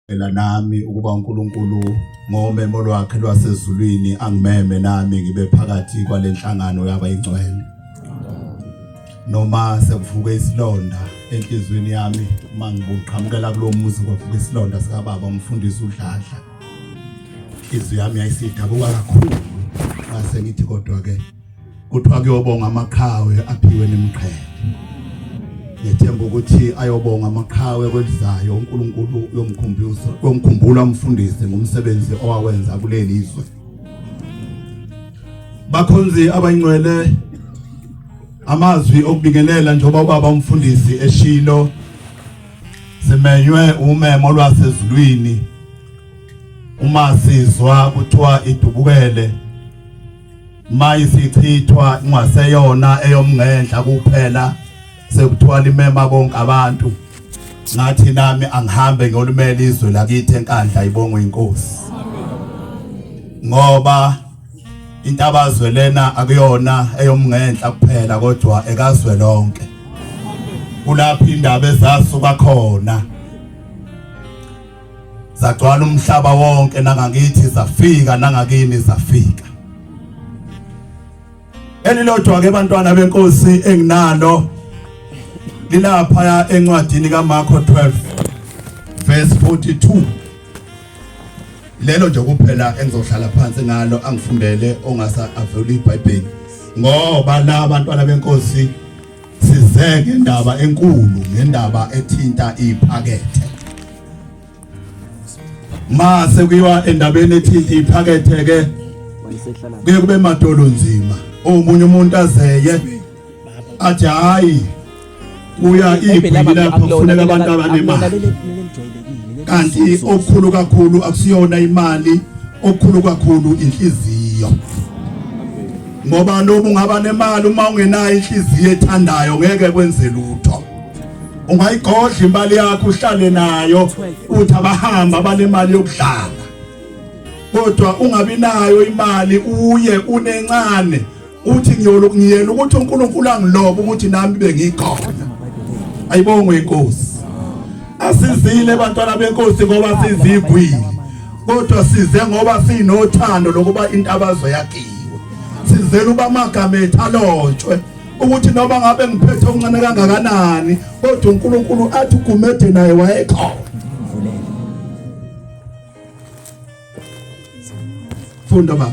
Ngicela nami ukuba uNkulunkulu ngomemo lwakhe lwasezulwini angimeme nami ngibe phakathi kwalenhlangano yabayingcwele. Noma sekuvuke isilonda enhlizweni yami mangibuqhamukela kulomuzi kwavuka isilonda sika baba umfundisi uDladla. Izwi yami yayisidabuka kakhulu ngase ngithi kodwa ke kuthiwa kuyobonga amaqhawe aphiwe nemqhele ngethemba ukuthi ayobonga amaqhawe kwelizayo uNkulunkulu uyomkhumbuza uyomkhumbula umfundisi ngomsebenzi owawenza kuleli izwe bakhonzi abayingcwele amazwi okubingelela njengoba ubaba umfundisi eshilo simenywe umemo lwasezulwini uma sizwa kuthiwa idubukele mayisichithwa ingaseyona eyomngenhla kuphela sekuthiwa limema bonke abantu ngathi nami angihambe ngiyolumela izwe lakithi enkandla ibongwe inkosi ngoba intabazwe lena akuyona eyomngenhla kuphela kodwa ekazwe lonke kulapha indaba ezasuka khona zagcwala umhlaba wonke nangakithi zafika nangakini zafika elilodwa ke bantwana benkosi enginalo lilapha encwadini kaMarko 12 verse 42 lelo nje kuphela engizohlala phansi ngalo angifundele ongasa avule iBhayibheli ngoba la bantwana benkosi Size ngendaba enkulu ngendaba ethinta iphakethe. Ma sekuyiwa endabeni ethinta iphakethe ke kuye kube madolo nzima. Omunye umuntu azeye athi hayi kuya iphi lapho kufuneka abantu abanemali. Kanti okukhulu kakhulu akusiyona imali, okukhulu kakhulu inhliziyo. ngoba noma ungaba nemali uma ungenayo inhliziyo ethandayo ngeke kwenze lutho ungayigodla imali yakho uhlale nayo uthi abahamba banemali yokudlala kodwa ungabi nayo imali uye unencane uthi ngiyoloku ngiyena ukuthi uNkulunkulu angilobe ukuthi nami bengikhona ayibongwe inkosi asizile bantwana benkosi ngoba sizigwile kodwa size ngoba sinothando lokuba intabazo yakhiwe sizela uba amagama ethu alotshwe ukuthi noma ngabe ngiphethe okuncane kangakanani kodwa uNkulunkulu athi ugumede naye wayekhona funda baba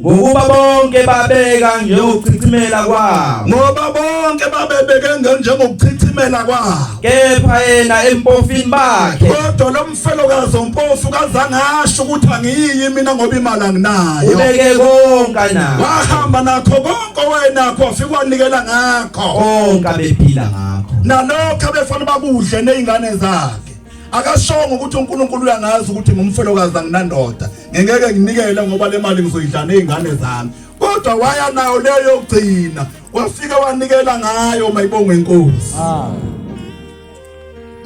ngokuba bonke babeka njengokuchithimela kwabo ngoba bonke babebeke njengokuchithimela kwabo kepha yena empofini bakhe kodwa lo mfelokazi ompofu kazange asho ukuthi angiyi mina ngoba imali anginayo ubeke konke nayo wahamba nakho konke owayenakho wafika wanikela ngakho konke abephila ngakho nalokho abefana bakudle nezingane zakhe akashongo ukuthi uNkulunkulu uyangazi ukuthi ngumfelokazi anginandoda ngingeke nginikele ngoba le mali ngizoyidla nezingane zami kodwa waya nayo leyo yokugcina wafika wanikela ngayo mayibongwe inkosi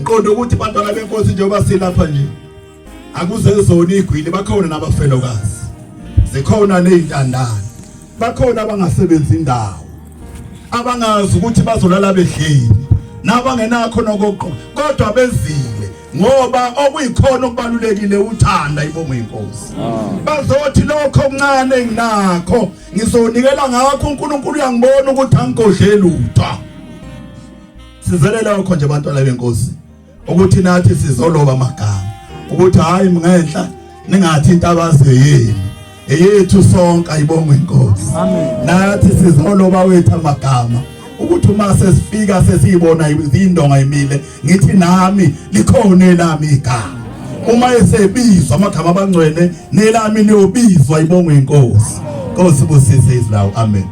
ngiqonda ukuthi abantwana benkosi njengoba silapha nje akuze zona igwili bakhona nabafelokazi zikhona nezintandane bakhona abangasebenzi indawo abangazi ukuthi bazolala bedlile nabangenakho nokoqo kodwa bezile ngoba okuyikhona okubalulekile uthanda ibongo inkosi bazothi lokho okuncane nginakho ngizonikela ngakho uNkulunkulu uyangibona ukuthi angigodleli utho sizelela lokho nje abantwana benkosi ukuthi nathi sizoloba amagama ukuthi hayi mngenhla ningathi into abaziyo yini eyethu sonke ayibongwe inkosi nathi sizoloba wethu amagama ukuthi uma sesifika sesiyibona izindonga imile ngithi nami likhona elami igama uma esebizwa amagama abangcwele nelami liyobizwa ibongwe inkosi Nkosi busise izlawu amen